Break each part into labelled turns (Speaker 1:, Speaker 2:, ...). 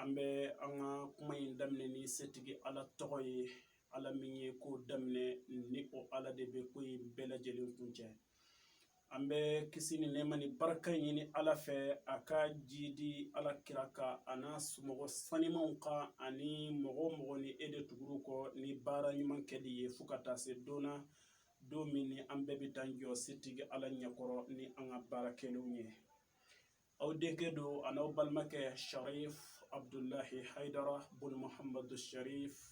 Speaker 1: an bɛ an ka kuma in daminɛ ni setigi ala tɔgɔ ye ala min ye ko daminɛ ni o ala de bɛ ko in bɛɛ lajɛlen kuncɛ an bɛ kisi ni nɛɛma ni barika ɲini ala fɛ a ka jiidi ala kira kan a n'a mɔgɔ sanimaw kan ani mɔgɔ o mɔgɔ ni e de tugur'u kɔ ni baara ɲuman kɛli ye fo ka taa se don na don min ni an bɛɛ bɛ t'an jɔ setigi ala ɲɛkɔrɔ ni an ka baara kɛlenw ye aw denkɛ don ani aw balimakɛ sarifu abudulayi hayidara bun muhamadu sarifu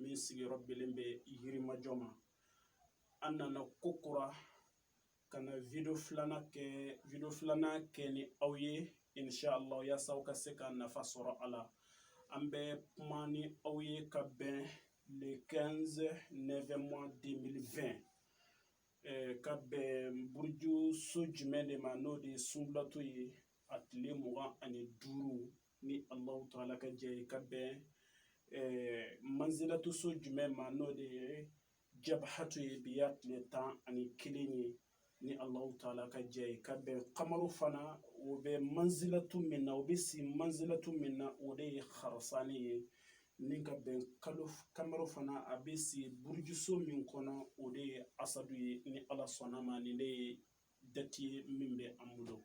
Speaker 1: min sigiyɔrɔ bɛnnen bɛ yirimajɔ ma an nana kokura ka na video filanan kɛ ni aw ye insha'la yaasa aw ka se ka nafa sɔrɔ a la an bɛ kuma ni aw ye ka bɛn le 15 neuvième mois 2020 ka bɛn buruju so jumɛn de ma n'o de ye sunbulatu ye a tile mugan ani duuru ni allahu taala ka jɛ ye ka bɛn manzilatu so jumɛn ma n'o de ye jabahatu ye bi y'a tile tan ani kelen ye ni allahu taala ka jɛ ye ka bɛn kamaru fana o bɛ manzilatu min na o bɛ si manzilatu min na o de ye harasani ye ni ka bɛn kamaru fana a bɛ si burujuso min kɔnɔ o de ye asadu ye ni ala sɔnn'a ma nin de ye dati ye min bɛ an bolo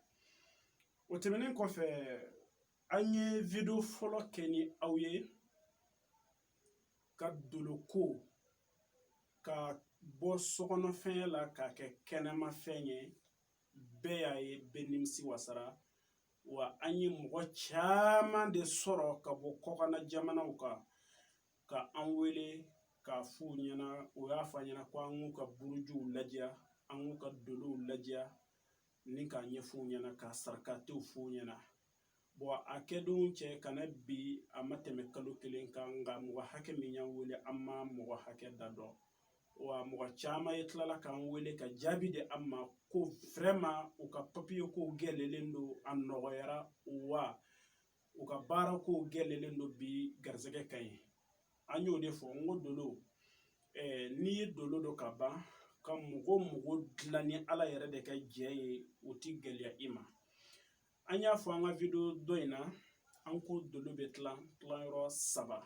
Speaker 1: o tɛmɛnen kɔfɛ an ye video fɔlɔ kɛ ni aw ye ka doloko k'a bɔ sokɔnɔfɛn la k'a kɛ kɛnɛmafɛn ye bɛɛ y'a ye bɛɛ nimisi wasara wa an ye mɔgɔ caman de sɔrɔ ka bɔ kɔkanna jamanaw kan ka an wele k'a f'u ɲɛna u y'a fɔ an ɲɛna ko an k'u ka burujuw lajɛ an k'u ka dolow lajɛ ni k'a ɲɛf'u ɲɛna ka sarakatew f'u ɲɛna bɔn a kɛdon cɛ ka na bi a ma tɛmɛ kalo kelen kan nka mɔgɔ hakɛ min y'an wele an ma mɔgɔ hakɛ da dɔn wa mɔgɔ caman ye tilala k'an wele ka jaabi di an ma ko vraiment u ka papiye ko gɛlɛlen don a nɔgɔyara wa u ka baara ko gɛlɛlen don bi garisɛgɛ ka ɲi an y'o de fɔ n ko dolo n'i ye dolo dɔn ka ban ka mɔgɔ mago dilan ni ala yɛrɛ de ka jɛ ye o ti gɛlɛya i ma an y'a fɔ an ka video dɔ in na an ko dolo bɛ tila tilayɔrɔ saba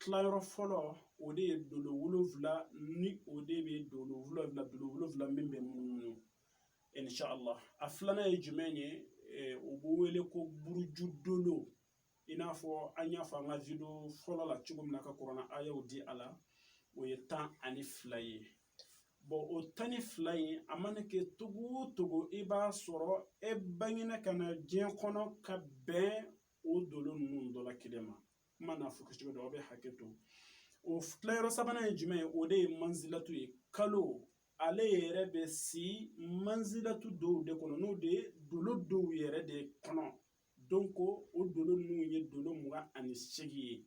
Speaker 1: tilayɔrɔ fɔlɔ o de ye dolo wolonfila ni o de bɛ dolo wolonfila dolo wolonfila min bɛ munumunu inshallah a filanan ye jumɛn ye o bɛ wele ko buruju dolo i n'a fɔ an y'a fɔ an ka video fɔlɔ la cogo min na ka kurana ayaw di a la o ye tan ani fila ye bɔn o tan ni fila in a mana kɛ cogo o cogo i b'a sɔrɔ e bangena ka na diɲɛ kɔnɔ ka bɛn o dolo ninnu dɔ la kelen ma kuma n'a fɔ kɛcogo dɔ aw bɛ hakɛ to o tilayɔrɔ sabanan ye jumɛn ye o de ye manzilaw ye kalo ale yɛrɛ bɛ si manzila dɔw de kɔnɔ n'o de ye dolo dɔw yɛrɛ de kɔnɔ donc o dolo ninnu ye dolo mugan ani seegin ye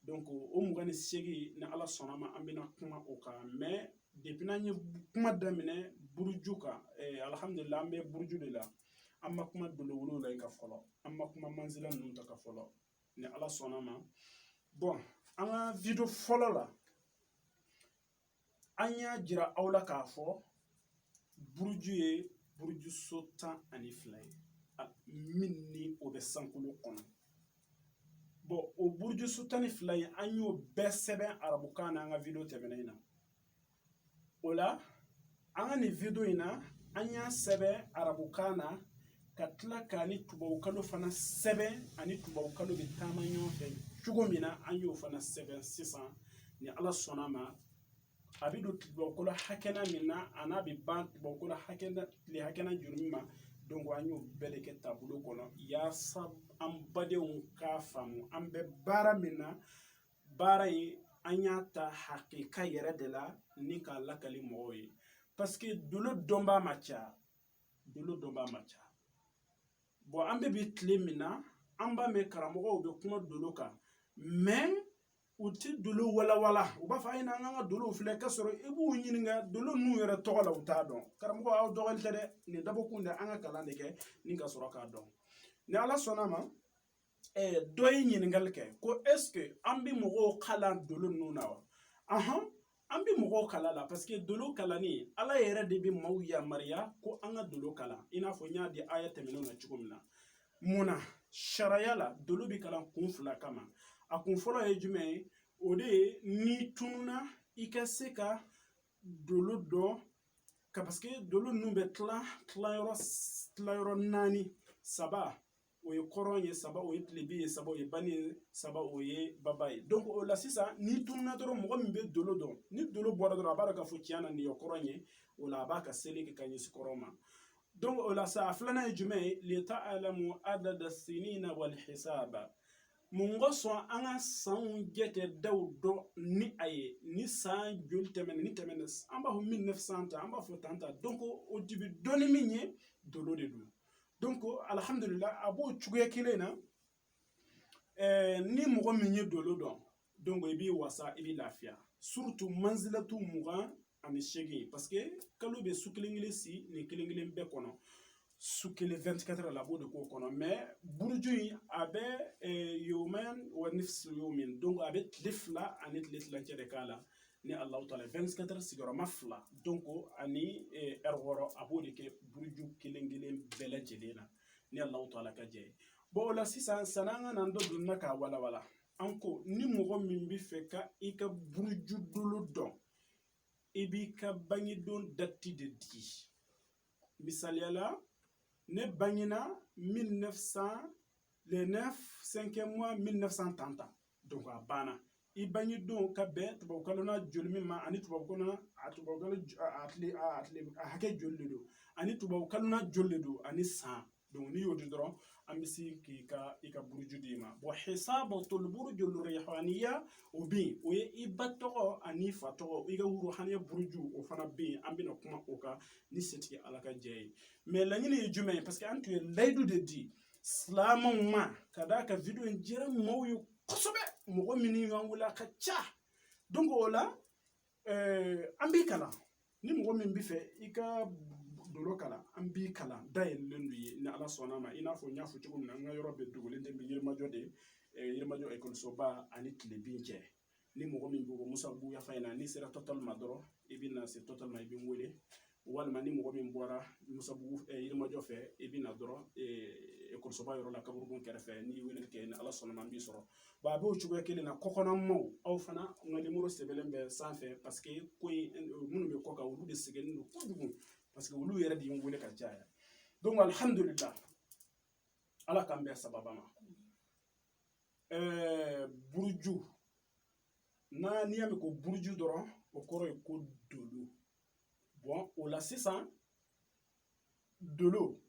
Speaker 1: donc o mugan ni seegin ni ala sɔnna ma an bɛna kuma o kan mɛ depi n'an ye kuma daminɛ buruju kan eh, alihamudulila an bɛ buruju de la an ma kuma dolo wolonwula in kan fɔlɔ an ma kuma manzila ninnu ta kan fɔlɔ ni ala sɔnna ma bɔn an ka video fɔlɔ la an y'a jira aw la k'a fɔ buruju ye buruju so tan ani fila ye min ni o bɛ sankolo kɔnɔ bɔn o buruju so tan ni fila in an y'o bɛɛ sɛbɛn arabukan na an ka video tɛmɛnen na o la an ka nin video in na an y'a sɛbɛn arabukan na ka tila k'a ni tubabukalo fana sɛbɛn ani tubabukalo bɛ taama ɲɔgɔn fɛ cogo min na an y'o fana sɛbɛn sisan ni ala sɔnna ma a bɛ don tubabukalo hakɛna min na ani a bɛ ban tubabukalo hakɛna tile hakɛna joli min ma donc an y'o bɛɛ de kɛ tabulo kɔnɔ yaasa an badenw k'a faamu an bɛ baara min na baara ye an y'a ta hakika yɛrɛ de la ni k'a lakali mɔgɔw ye paseke dolo dɔnbaa ma ca dolo dɔnbaa ma ca bɔn an bɛ bi tile min na an b'a mɛn karamɔgɔw bɛ kuma dolo kan mɛ u tɛ dolo walawala u b'a fɔ a ye n'an ka dolow filɛ k'a sɔrɔ i b'u ɲininka dolo ninnu yɛrɛ tɔgɔ la u t'a dɔn karamɔgɔ aw dɔgɔli tɛ dɛ nin dabɔkun de an ka kalan de kɛ ni ka sɔrɔ k'a dɔn ni ala sɔnna a ma dɔ ye ɲininkali kɛ ko ɛseke an bɛ mɔgɔw kalan dolo ninnu na wa ɔnhɔn an bɛ mɔgɔw kalan a la paseke dolo kalanni ala yɛrɛ de bɛ maaw yamaruya ko an ka dolo kalan i n'a fɔ n y'a di aya tɛmɛnenw na cogo min na mun na sariya la dolo bɛ kalan kun fila kama a kun fɔlɔ ye jumɛn ye o de ye n'i tununa i ka se ka dolo dɔn ka paseke dolo ninnu bɛ tila tilayɔrɔ tilayɔrɔ naani saba o ye kɔrɔn ye saba o ye tilebin ye saba o ye bani ye saba o ye baba ye donc o la sisan n'i tununa dɔrɔn mɔgɔ min bɛ dolo dɔn ni dolo bɔra dɔrɔn a b'a dɔn k'a fɔ tiɲɛ na nin ye kɔrɔn ye o la a b'a ka seli kɛ ka ɲɛsin kɔrɔn ma donc o la sa a filanan ye jumɛn ye leta alamu adada sinina wali hisaba mun ka sɔn an ka sanw jatedaw dɔn ni a ye ni san joli tɛmɛna ni tɛmɛna an b'a fɔ 1900 ta an b'a fɔ tan ta donc o dibi dɔnni min ye dolo de don donc alihamdulila a b'o cogoya kelen na eh, ni mɔgɔ min ye dolo dɔn donc i b'i wasa i bɛ lafiya surtout manzilatu mugan ani seegin parce que kalo bɛ su kelen kelen si nin kelen kelen bɛɛ kɔnɔ su kelen 24 la a b'o de k'o kɔnɔ mais buruju in a bɛ eh, yomen wa nifsi yomin donc a bɛ tile fila ani tile tilancɛ de k'a la ni ala ta 24 heures sigiyɔrɔma fila donc ani ɛri wɔɔrɔ a b'o de kɛ buruju kelen kelen bɛɛ lajɛlen na ni alawutaala ka jɛ ye o la sisan sani an ka na dɔ don na k'a walawala an ko ni mɔgɔ min b'a fɛ ka i ka buruju dolo dɔn i b'i ka bangedon dati de di misaliyala ne bangena 1900 le 9 5 mois 1930 donc a banna i bange don ka bɛn tubabukalo na joli min ma ani tubabu na a tubabu a tile a tile a hakɛ joli de don ani tubabukalo na joli de don ani san n'i y'o di dɔrɔn an bɛ se k'i ka i ka buruju d'i ma bon hisabu toli burujuliya o bɛ yen o ye i ba tɔgɔ ani fa tɔgɔ i ka rɔhani buruju o fana bɛ yen an bɛna kuma o kan ni setigi ala ka jɛ ye mais laɲini ye jumɛn ye parce que an tun ye layidu de di silamɛw ma ka d'a kan video in diyara mɔgɔw ye kosɛbɛ mɔgɔ minnu y'an wele a ka ca donc o la eh, an b'i kalan ni mɔgɔ min b'a fɛ i ka dolo kalan an b'i kalan dayɛlɛlen don i ye ni ala sɔnna ma i n'a fɔ n y'a fɔ cogo min na n ka yɔrɔ bɛ dogolen tɛ n bɛ yirimajɔ de eh, yirimajɔ ekɔlisoba ani tilebin cɛ ni mɔgɔ min bɔ musabugu yan fan na n'i sera tɔtɔli ma dɔrɔn i bɛ na se tɔtɔli ma i bɛ n wele walima ni mɔgɔ min bɔra musabugu yirimajɔ fɛ i bɛ na dɔrɔn ekɔlisoba yɔrɔ la kaburukun kɛrɛfɛ n'i ye wele kɛ ni ala sɔnna a ma n b'i sɔrɔ wa a b'o cogoya kelen na kɔkanmaw aw fana n ka nimoro sɛbɛnlen bɛ sanfɛ parce que ko in minnu bɛ kɔ kan olu de sɛgɛnnen don kojugu parce que olu yɛrɛ de ye n wele ka caya donc alihamudulila ala k'an bɛn sababu ma buruju n'a n'i y'a mɛn ko buruju dɔrɔn o kɔrɔ ye ko dolo bon o la sisan dolo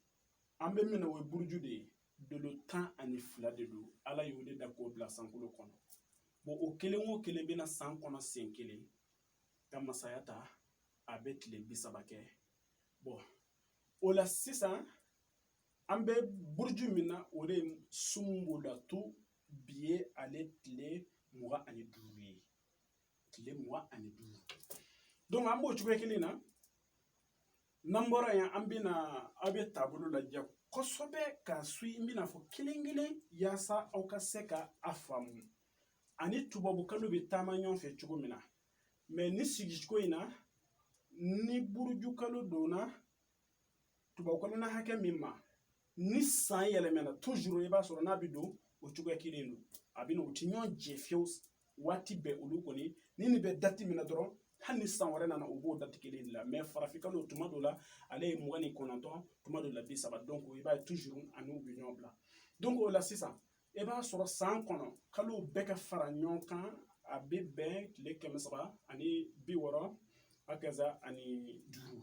Speaker 1: an bɛ min na o ye buruju de ye dolo tan ani fila de don ala y'u de da k'u bila sankolo kɔnɔ bon o kelen o kelen bɛ na san kɔnɔ sen kelen ka masaya ta a bɛ tile bi saba kɛ bon o la sisan An bɛ buruju min na o de ye sunbulatu bi ye ale tile mugan ani duuru ye tile mugan ani duuru donc an b'o cogoya kelen na n'an bɔra yen an bɛna aw bɛ tabulo lajɛ kosɛbɛ ka suivi n bɛna fɔ kelen kelen yaasa aw ka se ka a faamu ani tubabukalo bɛ taama ɲɔgɔn fɛ cogo min na mɛ nin sigicogo in na ni burujukalo donna tubabukalo na hakɛ min ma ni san yɛlɛmɛna tuzuru i b'a sɔrɔ n'a bɛ don o cogoya kelen don a bɛ na u ti ɲɔgɔn jɛ fiyewu waati bɛɛ olu kɔni ni nin bɛ dati min na dɔrɔn hali ni san wɛrɛ nana u b'o dati kelen de la mɛ farafinkalo tuma dɔ la ale ye mugan ni kɔnɔntɔn tuma dɔ la bi saba dɔnko i b'a ye tuzuru ani u bɛ ɲɔgɔn bila dɔnko o la sisan i b'a sɔrɔ san kɔnɔ kalow bɛɛ ka fara ɲɔgɔn kan a bɛ bɛn tile kɛmɛ saba ani bi wɔɔrɔ a kɛsa ani duuru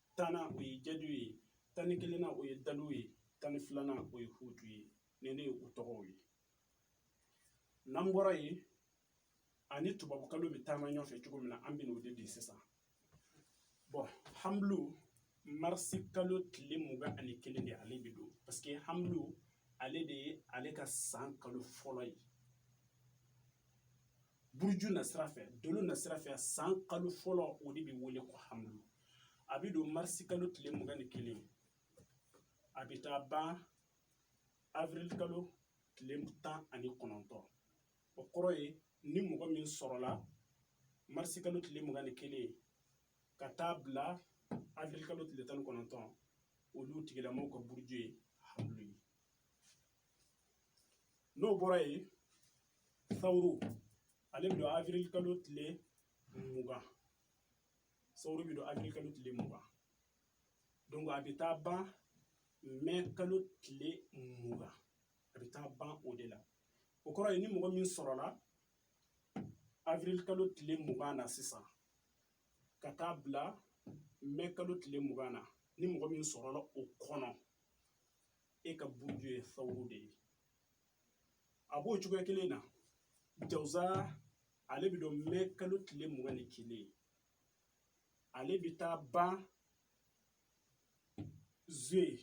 Speaker 1: tannan o ye jadi ye tan ni kelennan o ye daliw ye tan ni filanan o ye hutu ye nin ne ye u tɔgɔw ye n'an bɔra yen ani tubabukalo bɛ taama ɲɔgɔnfɛ cogo min na an bɛna o de di sisan bɔn hamulu marisi kalo tile mugan ani kelen de ale bɛ don paseke hamulu ale de ye ale ka san kalo fɔlɔ ye buruju na sira fɛ dolo na sira fɛ san kalo fɔlɔ o de bɛ wele ko hamulu a bɛ don marisi kalo tile mugan ni kelen a bɛ taa ban avril kalo tile tan ani kɔnɔntɔn o kɔrɔ ye ni mɔgɔ min sɔrɔla marisi kalo tile mugan ni kelen ka taa bila avril kalo tile tan ni kɔnɔntɔn olu tigilamɔgɔw ka buruju ye hamulu ye n'o bɔra yen sawuru ale bɛ don avril kalo tile mugan sawuru bɛ don avril kalo tile mugan donc a bɛ taa ban mɛ kalo tile mugan a bɛ taa ban o de la o kɔrɔ ye ni mɔgɔ min sɔrɔla avril kalo tile mugan na sisan ka taa bila mɛ kalo tile mugan na ni mɔgɔ min sɔrɔla o kɔnɔ e ka buruju ye sawuru de ye a b'o cogoya kelen na jawuza ale bɛ don mɛ kalo tile mugan ni kelen ale bɛ taa ban zuwɛn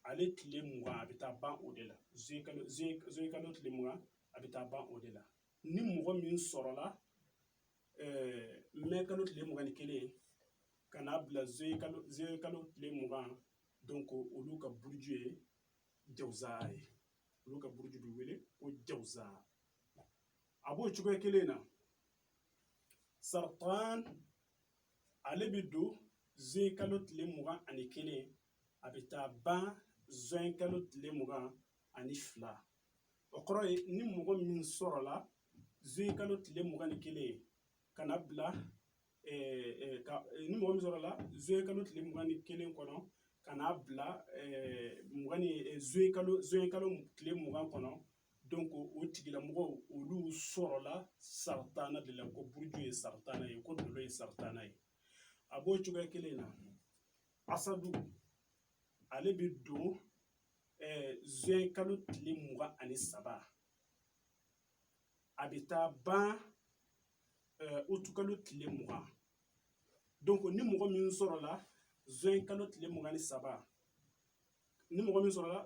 Speaker 1: ale tile mugan a bɛ taa ban o de la zuwɛn kalo zuwɛn kalo tile mugan a bɛ taa ban o de la ni mɔgɔ min sɔrɔla n mɛ kalo tile mugan ni kelen ka n'a bila zuwɛn kalo zuwɛn kalo tile mugan donc olu ka buruju ye jawuza ye olu ka buruju bɛ wele ko jawuza a b'o cogoya kelen na saratan ale bɛ don zuwɛn kalo tile mugan ani kelen a bɛ taa ban zuye kalo tile mugan ani fila o kɔrɔ ye ni mɔgɔ min sɔrɔla zuwɛn kalo tile mugan ni kelen ka n'a bila ni mɔgɔ min sɔrɔla zuwɛn kalo tile mugan ni kelen kɔnɔ ka n'a bila mugan ni zuye kalo zuye kalo tile mugan kɔnɔ donc o tigilamɔgɔw olu sɔrɔla saratan de la ko buruju ye saratan ye ko dolo ye saratan ye a b'o cogoya kelen na asadu ale bɛ don zuye kalo tile mugan ani saba a bɛ taa ban utu kalo tile mugan donc ni mɔgɔ min sɔrɔla zuye kalo tile mugan ni saba ni mɔgɔ min sɔrɔla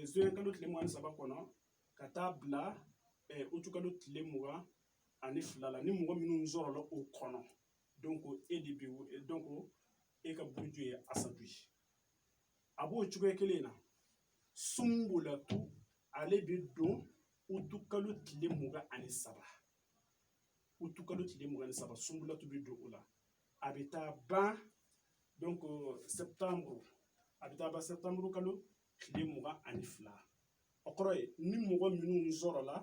Speaker 1: zuye kalo tile mugan ni saba kɔnɔ ka taa bila utu kalo tile mugan ani fila la ni mɔgɔ minnu sɔrɔla o kɔnɔ donc e de bɛ donc e ka buruju ye asadu ye a b'o cogoya kelen na sunbulatu ale bɛ don utukalo tile mugan ani saba utukalo tile mugan ni saba sunbulatu bɛ don o la a bɛ taa ban donc sɛbtanburu a bɛ taa ban sɛbtanburu kalo tile mugan ani fila o kɔrɔ ye ni mɔgɔ minnu sɔrɔla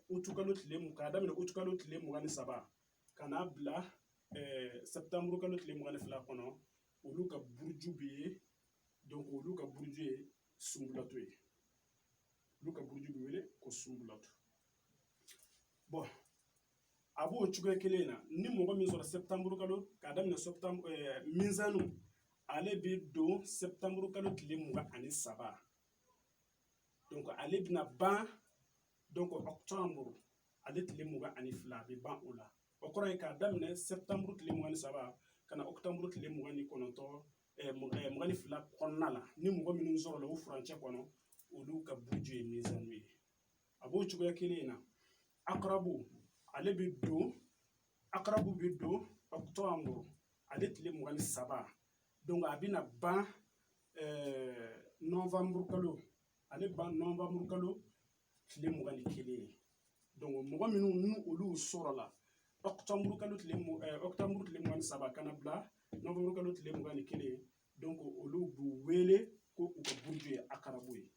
Speaker 1: utukalo tile mun k'a daminɛ utukalo tile mugan ni saba ka n'a bila sɛbtanburu kalo tile mugan ni fila kɔnɔ olu ka buruju bɛ ye olu ka buruju ye sunbulatu ye olu ka buruju bɛ wele ko sunbulatu bɔn a b'o cogoya kelen na ni mɔgɔ min sɔrɔ sɛbtanburu kalo k'a daminɛ mizani ale bɛ don sɛbtanburu kalo tile mugan ani saba ale bɛna ban donc octobre ale tile mugan ani fila a bɛ ban o la o kɔrɔ ye k'a daminɛ sɛbtanburu tile mugan ni saba ka na octobre tile mugan ni kɔnɔntɔn mugan ni fila kɔnɔna la ni mɔgɔ minnu sɔrɔla o furancɛ kɔnɔ olu ka buruju ye mizani ye a b'o cogoya kelen in na akarabu ale bɛ don akarabu bɛ don octobre ale tile mugan ni saba a bɛna ban nowanburu kalo ale ban nowanburu kalo tile mugan ni kelen ye mɔgɔ minnu ni olu sɔrɔla ɔkutɔburu kalo tile ɔkutɔburu tile mugan ni saba ka na bila nowanburu kalo tile mugan ni kelen olu b'u wele ko u ka buruju ye akarabu ye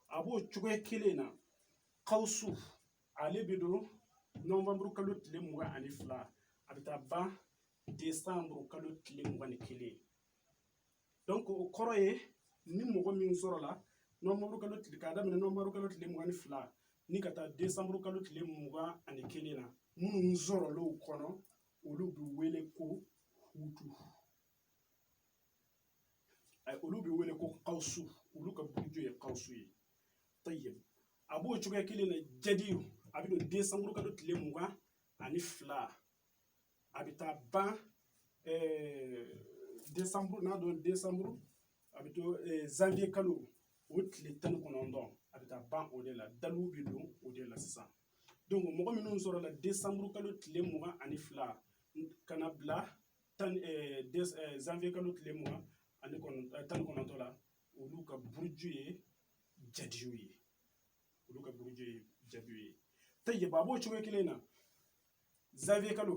Speaker 1: a b'o cogoya kelen na kawusu ale bɛ don nowanburu kalo tile mugan ani fila a bɛ taa ban desanburu kalo tile mugan ni kelen o kɔrɔ ye ni mɔgɔ min sɔrɔla nowanburu kalo tile k'a daminɛ nowanburu kalo tile mugan ni fila ni ka taa desanburu kalo tile mugan ani kelen na minnu sɔrɔl'o kɔnɔ olu bɛ wele ko hutu olu bɛ wele ko kawusu olu ka buruju ye kawusu ye tayibu a b'o cogoya kelen na jadi a bɛ don desanburu kalo tile mugan ani fila a bɛ taa ban desanburu n'a don desanburu a bɛ taa zanwiye kalo o tile tan ni kɔnɔntɔn a bɛ taa ban o de la dalu bɛ don o de la sisan donc mɔgɔ minnu sɔrɔla desanburu kalo tile mugan ani fila ka na bila tan zanwiye kalo tile mugan ani kɔnɔntɔn tan ni kɔnɔntɔn la olu ka buruju ye jadi ye olu ka buruju ye jadi ye tayibu a b'o cogo kelen na zanwiye kalo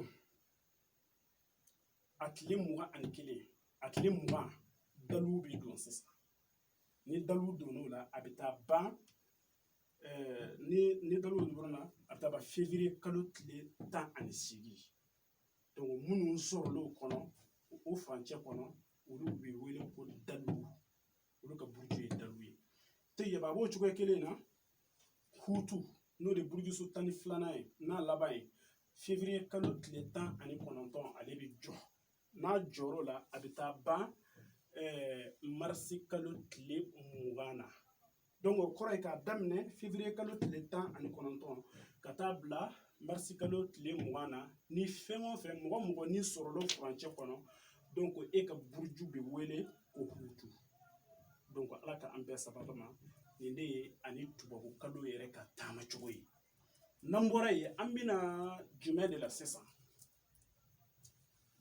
Speaker 1: a tile mugan ani kelen a tile mugan dalu bɛ don sisan ni dalu donn'o la a bɛ taa ban ni ni dalu donna na a bɛ taa ban fevriye kalo tile tan ani seegin donc minnu sɔrɔl'o kɔnɔ o furancɛ kɔnɔ olu bɛ wele ko dalu olu ka buruju ye dalu ye tayibu a b'o cogoya kelen na hutu n'o de burujuso tan ni filanan ye n'a laban ye fevriye kalo tile tan ani kɔnɔntɔn ale bɛ jɔ n'a jɔr'o la a bɛ taa ban marisi kalo tile mugan na donc o kɔrɔ ye k'a daminɛ fevriye kalo tile tan ani kɔnɔntɔn ka taa bila marisi kalo tile mugan na ni fɛn o fɛn mɔgɔ o mɔgɔ n'i sɔrɔl'o furancɛ kɔnɔ donc e ka buruju bɛ wele ko hutu donc ala ka an bɛɛ sababa ma nin de ye ani tubabu kalo yɛrɛ ka taama cogo ye n'an bɔra yen an bɛ na jumɛn de la sisan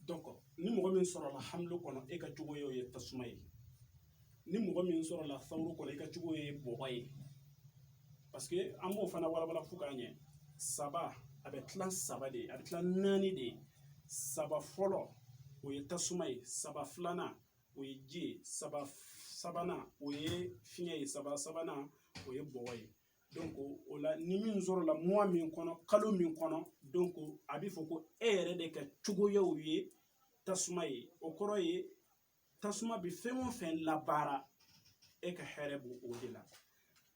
Speaker 1: donc ni mɔgɔ min sɔrɔla hamlu kɔnɔ e ka cogoya o ye tasuma ye ni mɔgɔ min sɔrɔla sawuru kɔnɔ e ka cogoya ye bɔgɔ ye paseke an b'o fana walawala fo k'a ɲɛ saba a bɛ tila saba de a bɛ tila naani de saba fɔlɔ o ye tasuma ye saba filanan o ye ji ye saba sabanan o ye fiɲɛ ye saba sabanan o ye bɔgɔ ye donc o la ni min sɔrɔla muwa min kɔnɔ kalo min kɔnɔ donc a bɛ fɔ ko e yɛrɛ de ka cogoya o ye tasuma ye o kɔrɔ ye tasuma bɛ fɛn o fɛn labaara e ka hɛrɛ b'o de la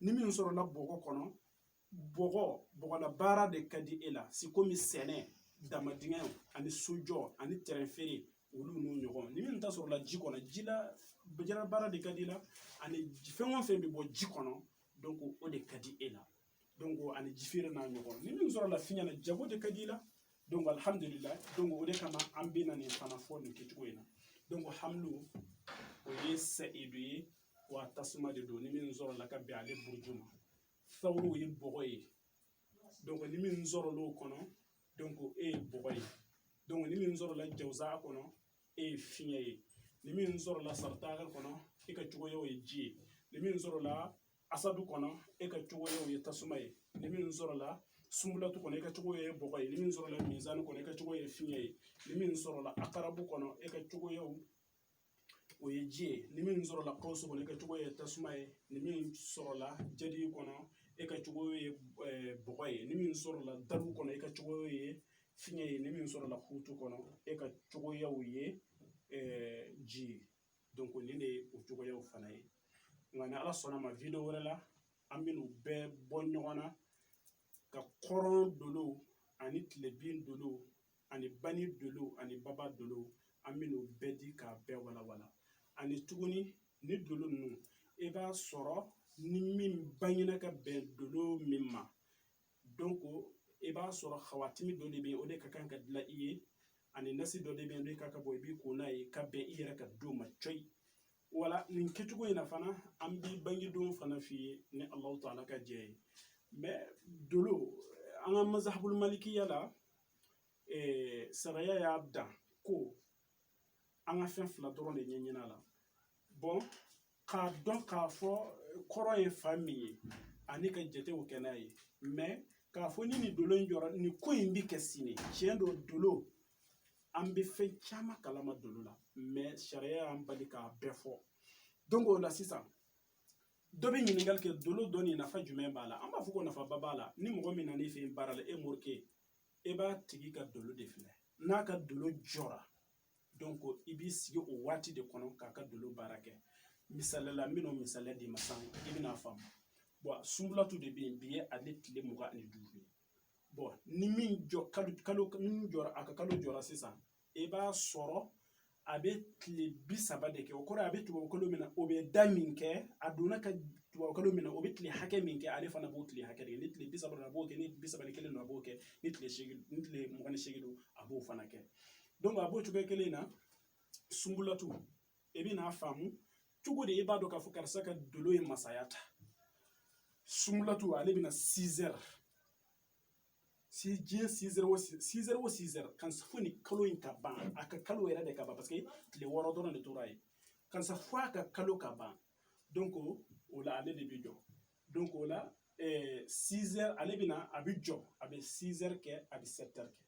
Speaker 1: ni min sɔrɔla bɔgɔ kɔnɔ bɔgɔ bɔgɔla baara de ka di e la sikomi sɛnɛ damandingɛ ani sojɔ ani tɛrɛn feere olu n'u ɲɔgɔn ni min ta sɔrɔla ji kɔnɔ ji la jila baara de ka di i la ani fɛn o fɛn bɛ bɔ ji kɔnɔ donc o de ka di e la donc ani ji feere n'a ɲɔgɔn ni min sɔrɔla fiɲɛ na jago de ka di i la donc alhamdulilayi donc o de kama an bɛ na nin fana fɔ nin kɛcogo in na donc hamalu o ye sayidu ye wa tasuma de don ni min sɔrɔla ka bɛn ale buruju ma sawuru ye bɔgɔ ye donc ni min sɔrɔl'o kɔnɔ donc e ye bɔgɔ ye donc ni min sɔrɔla jawuza kɔnɔ e ye fiɲɛ ye ni min sɔrɔla saratan kɔnɔ e ka cogoya ye ji ye ni min sɔrɔla asadu kɔnɔ e ka cogoya ye tasuma ye ni min sɔrɔla sunbulatu kɔnɔ e ka cogo ye bɔgɔ ye ni min sɔrɔla minzani kɔnɔ e ka cogo ye fiɲɛ ye ni min sɔrɔla akarabu kɔnɔ e ka cogoya ye ji ye ni min sɔrɔla kawusu kɔnɔ e ka cogo ye tasuma ye ni min sɔrɔla jadi kɔnɔ e ka cogo ye eh, bɔgɔ ye ni min sɔrɔla dalu kɔnɔ e ka cogo ye fiɲɛ ye ni min sɔrɔla hutu kɔnɔ e ka cogoya ye eh, ji ye donc nin de ye u cogoyaw fana ye nka ni ala sɔnn'a ma video wɛrɛ la an bɛ n'u bɛɛ bɔ ɲɔgɔn na ka kɔrɔn dolow ani tilebin dolow ani bani dolow ani baba dolow an bɛ n'u bɛɛ di k'a bɛɛ walawala ani tuguni ni dolo ninnu i b'a sɔrɔ ni min bangena ka bɛn dolo min ma donc i b'a sɔrɔ hawatimi dɔ de bɛ yen o de ka kan ka dilan i ye ani nasi dɔ de bɛ yen n'o ka kan ka bɔ i b'i ko n'a ye ka bɛn i yɛrɛ ka don ma cɔyi voilà nin kɛcogo in na fana an b'i bangedon fana f'i ye ni alahu taala ka jɛ ye mais dolo an ka mazhabul malikiya la eh, sariya y'a dan ko an ka fɛn fila dɔrɔn de ɲɛɲin'a la bon k'a dɔn k'a fɔ kɔrɔn ye fan min ye ani ka jatew kɛ n'a ye k'a fɔ ni nin dolo in jɔra nin ko in bɛ kɛ sini tiɲɛ don dolo an bɛ fɛn caman kalama dolo la sariya y'an bali k'a bɛɛ fɔ donc o la sisan dɔ bɛ ɲininkali kɛ dolo dɔnni nafa jumɛn b'a la an b'a fɔ ko nafaba b'a la ni mɔgɔ min nan'i fɛ yen baara la e morikɛ e b'a tigi ka dolo de filɛ n'a ka dolo jɔra i b'i sigi o waati de kɔnɔ k'a ka dolo baara kɛ misali la n bɛna misali d'i ma sisan i bɛna faamu sunbulatu de bɛ yen bi ye ale tile mugan ani duuru ye ni min jɔ kalo kalo min jɔra a ka kalo jɔra sisan i b'a sɔrɔ a bɛ tile bi saba de kɛ o kɔrɔ a bɛ tubabukalo min na o bɛ da min kɛ a donna ka tubabukalo min na o bɛ tile hakɛ min kɛ ale fana b'o tile hakɛ de kɛ ni tile bi saba a b'o kɛ ni bi saba ni kelen don a b'o kɛ ni tile seegin ni tile mugan ni seegin don a b'o fana kɛ donc a b'o cogoya kelen na sunbulatu e bɛn'a faamu cogo di e b'a dɔn k'a fɔ karisa ka dolo ye masaya ta sunbulatu ale bɛna 6 heures si diɲɛ 6 heures o 6 heures o 6 heures kan fo ni kalo in ka ban a ka kalo yɛrɛ de ka ban parce que tile wɔɔrɔ dɔrɔn de tora yen kansa fo a ka kalo ka ban donc o la ale de bɛ jɔ donc o la 6 heures ale bɛna a bɛ jɔ a bɛ 6 heures kɛ a bɛ 7 heures kɛ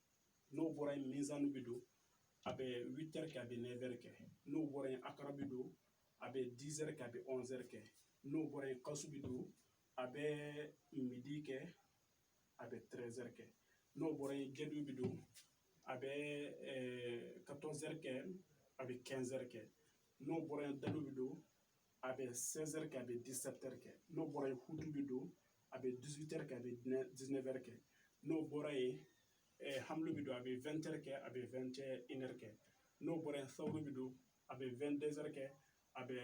Speaker 1: n'o bɔra yen mizani bɛ don a bɛ 8 heures kɛ a bɛ 9 heures kɛ n'o bɔra yen akarabu bɛ don a bɛ 10 heures kɛ a bɛ 11 heures kɛ n'o bɔra yen kasu bɛ don a bɛ midi kɛ a bɛ 13 heures kɛ n'o bɔra yen gɛdu bɛ don a bɛ 14 heures kɛ a bɛ 15 heures kɛ n'o bɔra yen dalu bɛ don a bɛ sɛnsɛri kɛ a bɛ disɛri kɛ n'o bɔra ye kutu bɛ don a bɛ dusu tɛ kɛ a bɛ diinɛɛrɛ kɛ n'o bɔra ye hami bɛ don a bɛ tɛ kɛ a bɛ tɛre kɛ n'o bɔra yen sababu bɛ don a bɛ tɛnɛnsɛri kɛ a bɛ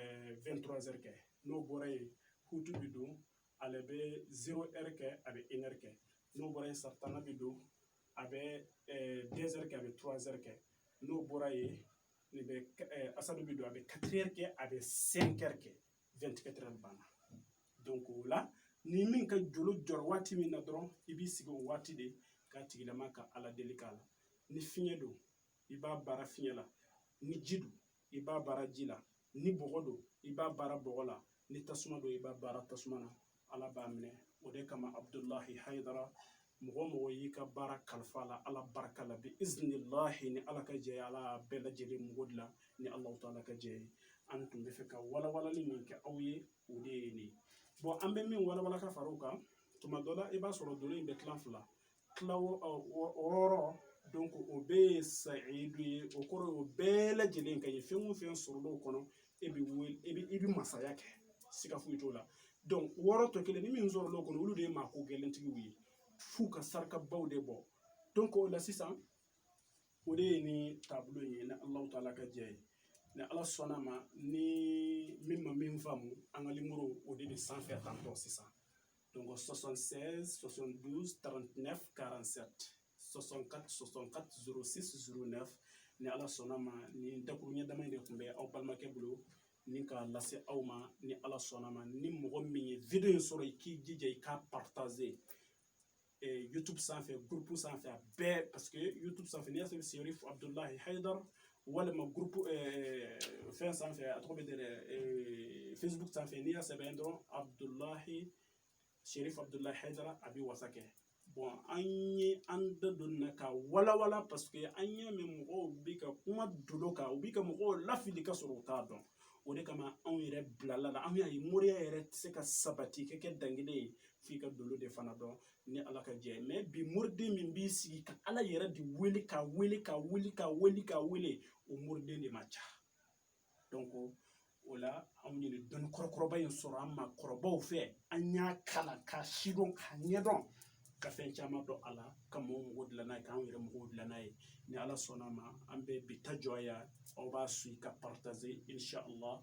Speaker 1: tze kɛ n'o bɔra yen kutu bɛ don ale bɛ z kɛ a bɛ ere kɛ n'o bɔra yen sa tan bɛ don a bɛ 2 heures kɛ a bɛ 3 heures kɛ n'o bɔra yen nin bɛ asadu bɛ don a bɛ 4 heures kɛ a bɛ 5 heures kɛ 24 heures banna donc o la ni min ka dolo jɔra waati min na dɔrɔn i b'i sigi o waati de ka tigilama ka ala deli k'a la ni fiɲɛ don i b'a baara fiɲɛ la ni ji don i b'a baara ji la ni bɔgɔ don i b'a baara bɔgɔ la ni tasuma don i b'a baara tasuma na ala b'a minɛ o de kama abudulahi hayidara mɔgɔ o mɔgɔ y'i ka baara kalifa a la ala barika la bi iznilahi ni ala ka jɛ ala bɛɛ lajɛlen mako dilan ni ala taala ka jɛ an tun bɛ fɛ ka walawalali min kɛ aw ye o de ye nin bon an bɛ min walawala ka fara o kan tuma dɔ la i b'a sɔrɔ dolo in bɛ tila fila tila wɔɔrɔ don ko o bɛɛ ye sayidu ye o kɔrɔ o bɛɛ lajɛlen ka ye fɛn o fɛn sɔrɔl'o kɔnɔ e bɛ wele e bɛ i bɛ masaya kɛ siga foyi t'o la wɔɔrɔ tɔ kelen ni min sɔrɔl'o kɔnɔ olu de ye maa ko gɛlɛntigiw ye f'u ka sarakabaw de bɔ o la sisan o de ye ni taabolo in ye ni alahu taala ka jɛ ye ni ala sɔnna ma ni min ma min faamu an ka nimɔrɔ o de bɛ sanfɛ tantɔ sisan donc 76 72 39 47 64 64 06 09 ni ala sɔnna ma ni dakuruɲɛ dama in de tun bɛ aw balimakɛ bolo nin k'a lase aw ma ni ala sɔnna ma ni mɔgɔ min ye video in sɔrɔ i k'i jija i k'a partager eh, youtube sanfɛ groupew sanfɛ a bɛɛ parce que youtube sanfɛ n'i y'a sɔrɔ i bɛ se yɔrɔ fo abdulahi haidar walima gurupu fɛn sanfɛ a tɔgɔ bɛ dɛ facebook sanfɛ n'i y'a sɛbɛn dɔrɔn abudulayi serifu abudulayi hayidara a bɛ wasa kɛ bɔn an ye an da don na k'a walawala paseke an y'a mɛn mɔgɔw bi ka kuma dolo kan u bi ka mɔgɔw lafili ka sɔrɔ u t'a dɔn o de kama anw yɛrɛ bilala a la an y'a ye moriya yɛrɛ tɛ se ka sabati ka kɛ dankelen ye f'i ka dolo de fana dɔn ni ala ka jɛ mɛ bi moriden min b'i sigi ka ala yɛrɛ de wele ka wele ka wele ka wele ka wele o moriden de man ca donc o la anw ye nin dɔnni kɔrɔkɔrɔba in sɔrɔ an maakɔrɔbaw fɛ an y'a kalan k'a sidɔn k'a ɲɛdɔn ka fɛn caman dɔn a la ka mɔgɔw mako dilan n'a ye k'an yɛrɛ makow dilan n'a ye ni ala sɔnna a ma an bɛ bi ta jɔ yan aw b'a suivre k'a partaze inshallah